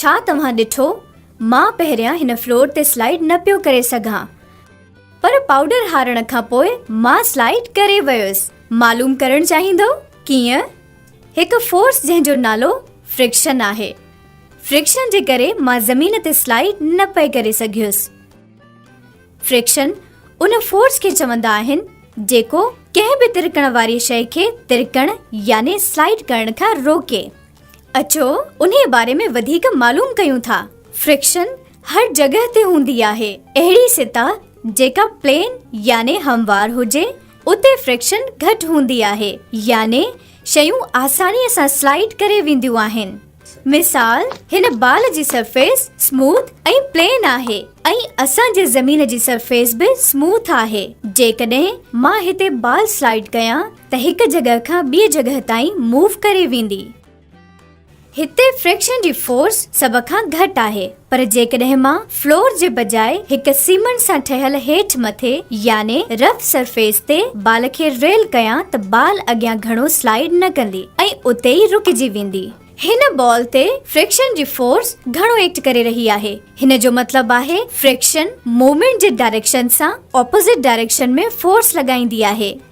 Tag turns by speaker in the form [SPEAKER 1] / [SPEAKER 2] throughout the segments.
[SPEAKER 1] ڇا توهان ڏٺو مان پهريان هن فلور تي سلائيڊ نه پيو ڪري سگهان پر پائوڊر هارڻ کان پوء مان سلائيڊ ڪري ويس معلوم ڪرڻ چاهيندو ڪيئن هڪ فورس جنهن جو نالو فرڪشن آهي فرڪشن جي ڪري مان زمين تي سلائيڊ نه پئي ڪري سگهيس فرڪشن ان فورس کي چوندا آهن جيڪو ڪنهن به ترڪڻ واري شئي کي ترڪڻ يعني سلائيڊ ڪرڻ کان روڪي اچو انهيء باري ۾ وڌيڪ معلوم ڪيون ٿا. فرڪشن هر جڳهه تي هوندي آهي. اهڙي سطح جيڪا پلين يعني هموار هجي اتي فرڪشن گهٽ هوندي آهي يعني شيون آسانيء سان سلائيڊ ڪري وينديون آهن. مثال، هن بال جي سرفيس سموٿ ۽ پلين آهي ۽ اسان جي زمين جي سرفيس به سموٿ آهي. جيڪڏهن مان هتي بال سلائيڊ ڪيان ته هڪ جڳهه کان ٻي جڳهه تائين موو ڪري ويندي. هتي فريڪشن جي فورس سڀ کان گهٽ آهي پر جيڪڏهن مان فلور جي بجاء هڪ سيمنٽ سان ٺهيل هيٺ مٿي يعني رف سرفيس تي بال کي ريل ڪيان ته بال اڳيان گهڻو سلائيڊ نه ڪندي ۽ اتي ئي رڪجي ويندي. هن بال تي فريڪشن جي فورس گهڻو ايڪٽ ڪري رهي آهي هن جو مطلب آهي فريڪشن موومينٽ جي ڊائريڪشن سان اپوزٽ ڊائريڪشن ۾ فورس لڳائيندي آهي.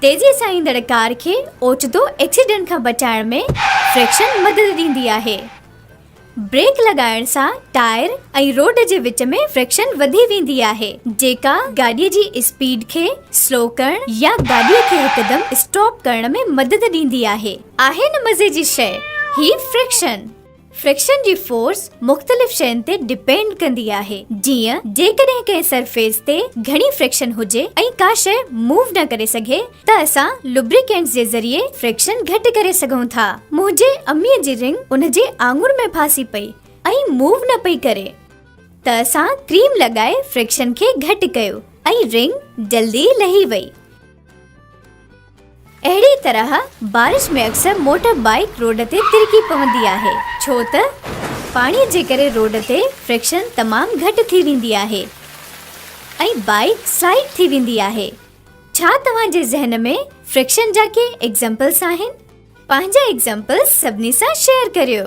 [SPEAKER 1] تيزيء سان ايندڙ ڪار کي اوچتو ايڪسيڊنٽ کان بچائڻ ۾ فريڪشن مدد ڏيندي آهي. بريڪ لڳائڻ سان ٽائر ۽ روڊ جي وچ ۾ فريڪشن وڌي ويندي آهي، جيڪا گاڏيء جي اسپيڊ کي سلو ڪرڻ يا گاڏيء کي هڪدم اسٽاپ ڪرڻ ۾ مدد ڏيندي آهي. آهي نه مزي جي شيء هي فريڪشن! فريڪشن جي فورس مختلف شين تي ڊپينڊ ڪندي آهي جيئن جيڪڏهن ڪنهن سرفيس تي گهڻي فريڪشن هجي ۽ ڪا شئ موو نه ڪري سگهي ته اسان لبريڪينٽس جي ذريعي فريڪشن گهٽ ڪري سگهون ٿا منهنجي امي جي رنگ ان جي آڱر ۾ ڦاسي پئي ۽ موو نه پئي ڪري ته اسان ڪريم لڳائي فريڪشن کي گهٽ ڪيو ۽ رنگ جلدي لهي وئي. اهڙي طرح بارش ۾ اڪثر موٽر بائيڪ روڊ تي ترڪي پوندي آهي ڇو ته پاڻي جي ڪري روڊ تي فرڪشن تمام گهٽ ٿي ويندي آهي ۽ بائيڪ سلائيڊ ٿي ويندي آهي ڇا توهان جي ذهن ۾ فرڪشن جا ڪي ايگزمپلس آهن پنهنجا ايگزمپلس سڀني سان شيئر ڪريو.